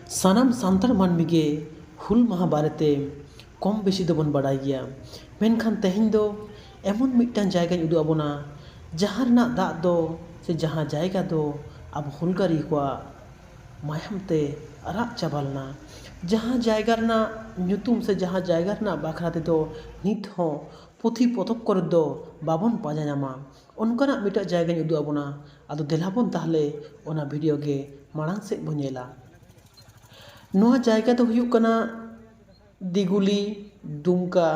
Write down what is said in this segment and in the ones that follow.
ᱥᱟᱱᱟᱢ ᱥᱟᱱᱛᱟᱲ ᱢᱟᱹᱱᱢᱤ ᱜᱮ ᱦᱩᱞ ᱢᱟᱦᱟ ᱵᱟᱨᱮᱛᱮ ᱠᱚᱢ ᱵᱮᱥᱤ ᱫᱚᱵᱚᱱ ᱵᱟᱲᱟᱭ ᱜᱮᱭᱟ ᱢᱮᱱᱠᱷᱟᱱ ᱛᱮᱦᱮᱧ ᱫᱚ ᱮᱢᱚᱱ ᱢᱤᱫᱴᱟᱱ ᱡᱟᱭᱜᱟᱧ ᱩᱫᱩᱜ ᱟᱵᱚᱱᱟ ᱡᱟᱦᱟᱸ ᱨᱮᱱᱟᱜ ᱫᱟᱜ ᱫᱚ ᱥᱮ ᱡᱟᱦᱟᱸ ᱡᱟᱭᱜᱟ ᱫᱚ ᱟᱵᱚ ᱦᱩᱞᱜᱟᱹᱨᱤᱭᱟᱹ ᱠᱚᱣᱟᱜ ᱢᱟᱭᱟᱢ ᱛᱮ ᱟᱨᱟᱜ ᱪᱟᱵᱟ ᱞᱮᱱᱟ ᱡᱟᱦᱟᱸ ᱡᱟᱭᱜᱟ ᱨᱮᱱᱟᱜ ᱧᱩᱛᱩᱢ ᱥᱮ ᱡᱟᱦᱟᱸ ᱡᱟᱭᱜᱟ ᱨᱮᱱᱟᱜ ᱵᱟᱠᱷᱨᱟ ᱛᱮᱫᱚ ᱱᱤᱛ ᱦᱚᱸ ᱯᱩᱛᱷᱤ ᱯᱚᱛᱚᱵ ᱠᱚᱨᱮ ᱫᱚ ᱵᱟᱵᱚᱱ ᱯᱟᱸᱡᱟ ᱧᱟᱢᱟ ᱚᱱᱠᱟᱱᱟᱜ ᱢᱤᱫᱴᱟᱝ ᱡᱟᱭᱜᱟᱧ ᱩᱫᱩᱜ ᱟᱵᱚᱱᱟ ᱟᱫᱚ ᱫᱮᱞᱟ ᱵᱚᱱ ᱛᱟᱦᱚᱞᱮ ᱚᱱᱟ ᱵᱷᱤᱰᱤᱭᱳ ᱜᱮ ᱢᱟᱲᱟᱝ ᱥᱮᱫ ᱵᱚᱱ ᱧᱮᱞᱟ ᱱᱚᱣᱟ ᱡᱟᱭᱜᱟ ᱫᱚ ᱦᱩᱭᱩᱜ ᱠᱟᱱᱟ ᱫᱤᱜᱷᱩᱞᱤ ᱫᱩᱢᱠᱟ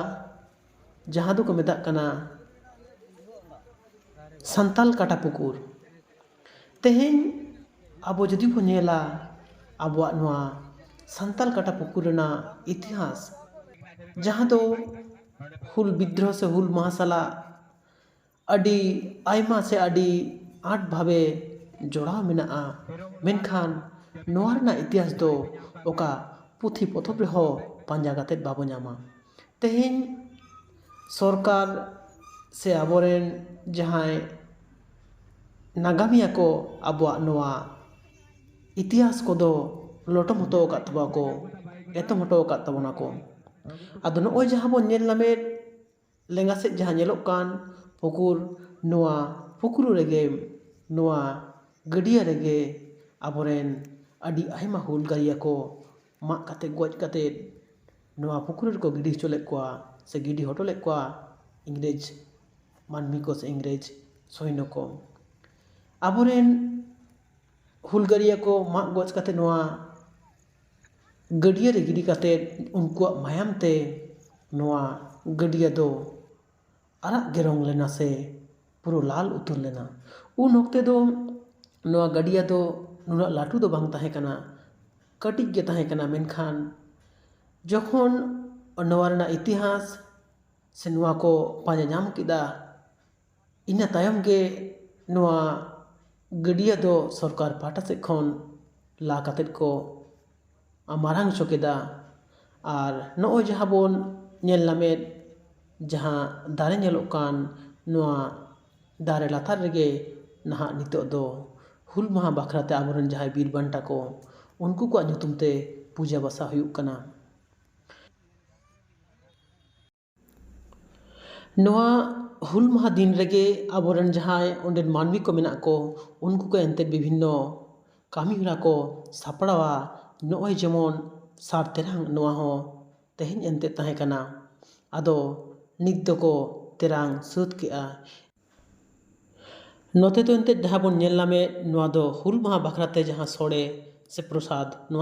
ᱡᱟᱦᱟᱸ ᱫᱚᱠᱚ ᱢᱮᱛᱟᱜ ᱠᱟᱱᱟ ᱥᱟᱱᱛᱟᱲ ᱠᱟᱴᱟ ᱯᱩᱠᱩᱨ ᱛᱮᱦᱮᱧ ᱟᱵᱚ ᱡᱩᱫᱤ ᱵᱚᱱ ᱧᱮᱞᱟ ᱟᱵᱚᱣᱟᱜ ᱱᱚᱣᱟ ᱥᱟᱱᱛᱟᱲ ᱠᱟᱴᱟ ᱯᱩᱠᱩᱨ ᱨᱮᱱᱟᱜ ᱤᱛᱤᱦᱟᱥ ᱡᱟᱦᱟᱸ ᱫᱚ ᱦᱩᱞ ᱵᱤᱫᱽᱫᱨᱳᱦᱚ ᱥᱮ ᱦᱩᱞ ᱢᱟᱦᱟ ᱥᱟᱞᱟᱜ ᱟᱹᱰᱤ ᱟᱭᱢᱟ ᱥᱮ ᱟᱹᱰᱤ ᱟᱸᱴ ᱵᱷᱟᱵᱮ ᱡᱚᱲᱟᱣ ᱢᱮᱱᱟᱜᱼᱟ ᱢᱮᱱᱠᱷᱟᱱ ᱱᱚᱣᱟ ᱨᱮᱱᱟᱜ ᱤᱛᱤᱦᱟᱥ ᱫᱚ ᱚᱠᱟ ᱯᱩᱛᱷᱤ ᱯᱚᱛᱚᱵ ᱨᱮᱦᱚᱸ ᱯᱟᱸᱡᱟ ᱠᱟᱛᱮ ᱵᱟᱵᱚ ᱧᱟᱢᱟ ᱛᱮᱦᱮᱧ ᱥᱚᱨᱠᱟᱨ ᱥᱮ ᱟᱵᱚ ᱨᱮᱱ ᱡᱟᱦᱟᱸᱭ ᱱᱟᱜᱟᱢᱤᱭᱟᱹ ᱠᱚ ᱟᱵᱚᱣᱟᱜ ᱱᱚᱣᱟ ᱤᱛᱤᱦᱟᱥ ᱠᱚᱫᱚ ᱞᱚᱴᱚᱢ ᱦᱚᱴᱚ ᱟᱠᱟᱫ ᱛᱟᱵᱚᱱᱟ ᱠᱚ ᱮᱛᱚᱢ ᱦᱚᱴᱚ ᱟᱠᱟᱫ ᱛᱟᱵᱚᱱᱟ ᱠᱚ ᱟᱫᱚ ᱱᱚᱜᱼᱚᱭ ᱡᱟᱦᱟᱸ ᱵᱚᱱ ᱧᱮᱞ ᱧᱟᱢᱮᱫ ᱞᱮᱸᱜᱟ ᱥᱮᱫ ᱡᱟᱦᱟᱸ ᱧᱮᱞᱚᱜ ᱠᱟᱱ ᱯᱩᱠᱩᱨ ᱱᱚᱣᱟ ᱯᱩᱠᱩᱨ ᱨᱮᱜᱮ ᱱᱚᱣᱟ ᱜᱟᱹᱰᱭᱟᱹ ᱨᱮᱜᱮ ᱟᱵᱚ ᱨᱮᱱ ᱟᱹᱰᱤ ᱟᱭᱢᱟ ᱦᱩᱞᱜᱟᱹᱨᱭᱟᱹ ᱠᱚ ᱢᱟᱜ ᱠᱟᱛᱮᱫ ᱜᱚᱡ ᱠᱟᱛᱮᱫ ᱱᱚᱣᱟ ᱯᱩᱠᱩᱨ ᱨᱮᱠᱚ ᱜᱤᱰᱤ ᱦᱚᱪᱚ ᱞᱮᱫ ᱠᱚᱣᱟ ᱥᱮ ᱜᱤᱰᱤ ᱦᱚᱴᱚ ᱞᱮᱫ ᱠᱚᱣᱟ ᱤᱝᱨᱮᱡᱽ ᱢᱟᱹᱱᱢᱤ ᱠᱚ ᱥᱮ ᱤᱝᱨᱮᱡᱽ ᱥᱳᱭᱱᱚ ᱠᱚ ᱟᱵᱚ ᱨᱮᱱ ᱦᱩᱞᱜᱟᱹᱨᱭᱟᱹ ᱠᱚ ᱢᱟᱜ ᱜᱚᱡ ᱠᱟᱛᱮᱫ ᱱᱚᱣᱟ ᱜᱟᱹᱰᱭᱟᱹ ᱨᱮ ᱜᱤᱰᱤ ᱠᱟᱛᱮᱫ ᱩᱱᱠᱩᱣᱟᱜ ᱢᱟᱭᱟᱢ ᱛᱮ ᱱᱚᱣᱟ ᱜᱟᱹᱰᱭᱟᱹ ᱫᱚ ᱟᱨᱟᱜ ᱜᱮ ᱨᱚᱝ ᱞᱮᱱᱟ ᱥᱮ ᱯᱩᱨᱟᱹ ᱞᱟᱞ ᱩᱛᱟᱹᱨ ᱞᱮᱱᱟ ᱩᱱ ᱚᱠᱛᱮ ᱫᱚ ᱱᱚᱣᱟ ᱜᱟᱹᱰᱭᱟᱹ ᱫᱚ ᱩᱱᱟᱹᱜ ᱞᱟᱹᱴᱩ ᱫᱚ ᱵᱟᱝ ᱛᱟᱦᱮᱸ ᱠᱟᱱᱟ ᱠᱟᱹᱴᱤᱡ ᱜᱮ ᱛᱟᱦᱮᱸ ᱠᱟᱱᱟ ᱢᱮᱱᱠᱷᱟᱱ ᱡᱚᱠᱷᱚᱱ ᱱᱚᱣᱟ ᱨᱮᱱᱟᱜ ᱤᱛᱤᱦᱟᱥ ᱥᱮ ᱱᱚᱣᱟ ᱠᱚ ᱯᱟᱸᱡᱟ ᱧᱟᱢ ᱠᱮᱫᱟ ᱤᱱᱟᱹ ᱛᱟᱭᱚᱢ ᱜᱮ ᱱᱚᱣᱟ ᱜᱟᱹᱰᱭᱟᱹ ᱫᱚ ᱥᱚᱨᱠᱟᱨ ᱯᱟᱦᱴᱟ ᱥᱮᱫ ᱠᱷᱚᱱ ᱞᱟ ᱠᱟᱛᱮᱫ ᱠᱚ ᱢᱟᱨᱟᱝ ᱦᱚᱪᱚ ᱠᱮᱫᱟ ᱟᱨ ᱱᱚᱜᱼᱚᱭ ᱡᱟᱦᱟᱸ ᱵᱚᱱ ᱧᱮᱞ ᱧᱟᱢᱮᱫ ᱡᱟᱦᱟᱸ ᱫᱟᱨᱮ ᱧᱮᱞᱚᱜ ᱠᱟᱱ ᱱᱚᱣᱟ ᱫᱟᱨᱮ ᱞᱟᱛᱟᱨ ᱨᱮᱜᱮ ᱱᱟᱦᱟᱜ ᱱᱤᱛᱚᱜ ᱫᱚ ᱦᱩᱞ ᱢᱟᱦᱟ ᱵᱟᱠᱷᱨᱟ ᱛᱮ ᱟᱵᱚ ᱨᱮᱱ ᱡᱟᱦᱟᱸᱭ ᱵᱤᱨ ᱵᱟᱱᱴᱟ ᱠᱚ ᱩᱱᱠᱩ ᱠᱚᱣᱟᱜ ᱧᱩᱛᱩᱢ ᱛᱮ ᱯᱩᱡᱟᱹ ᱵᱟᱥᱟ ᱦᱩᱭᱩᱜ ᱠᱟᱱᱟ ᱱᱚᱣᱟ ᱦᱩᱞ ᱢᱟᱦᱟ ᱫᱤᱱ ᱨᱮᱜᱮ ᱟᱵᱚ ᱨᱮᱱ ᱡᱟᱦᱟᱸᱭ ᱚᱸᱰᱮᱱ ᱢᱟᱹᱱᱢᱤ ᱠᱚ ᱢᱮᱱᱟᱜ ᱠᱚ ᱩᱱᱠᱩ ᱠᱚ ᱮᱱᱛᱮ ᱵᱤᱵᱷᱤᱱᱱᱚ ᱠᱟᱹᱢᱤ ᱦᱚᱨᱟ ᱠᱚ ᱥᱟᱯᱲᱟᱣᱟ ᱱᱚᱜᱼᱚᱭ ᱡᱮᱢᱚᱱ ᱥᱟᱨ ᱛᱮᱨᱟᱝ ᱱᱚᱣᱟ ᱦᱚᱸ ᱛᱮᱦᱮᱧ ᱮᱱᱛᱮ ᱛᱟᱦᱮᱸ ᱠᱟᱱᱟ ᱟᱫᱚ ᱱᱤᱛ ᱫᱚᱠᱚ ᱛᱮᱨᱟᱝ ᱥᱟᱹᱛ ᱠᱮᱜᱼᱟ ᱱᱚᱛᱮ ᱫᱚ ᱮᱱᱛᱮ ᱡᱟᱦᱟᱸ ᱵᱚᱱ ᱧᱮᱞ ᱧᱟᱢᱮᱜ ᱱᱚᱣᱟ ᱫᱚ ᱦᱩᱞ ᱢᱟᱦᱟ ᱵᱟᱠᱷᱨᱟ ᱛᱮ ᱡᱟᱦᱟᱸ ᱥᱚᱲᱮ ᱥᱮ ᱯᱨᱚᱥᱟᱫᱽ ᱱᱚᱣᱟ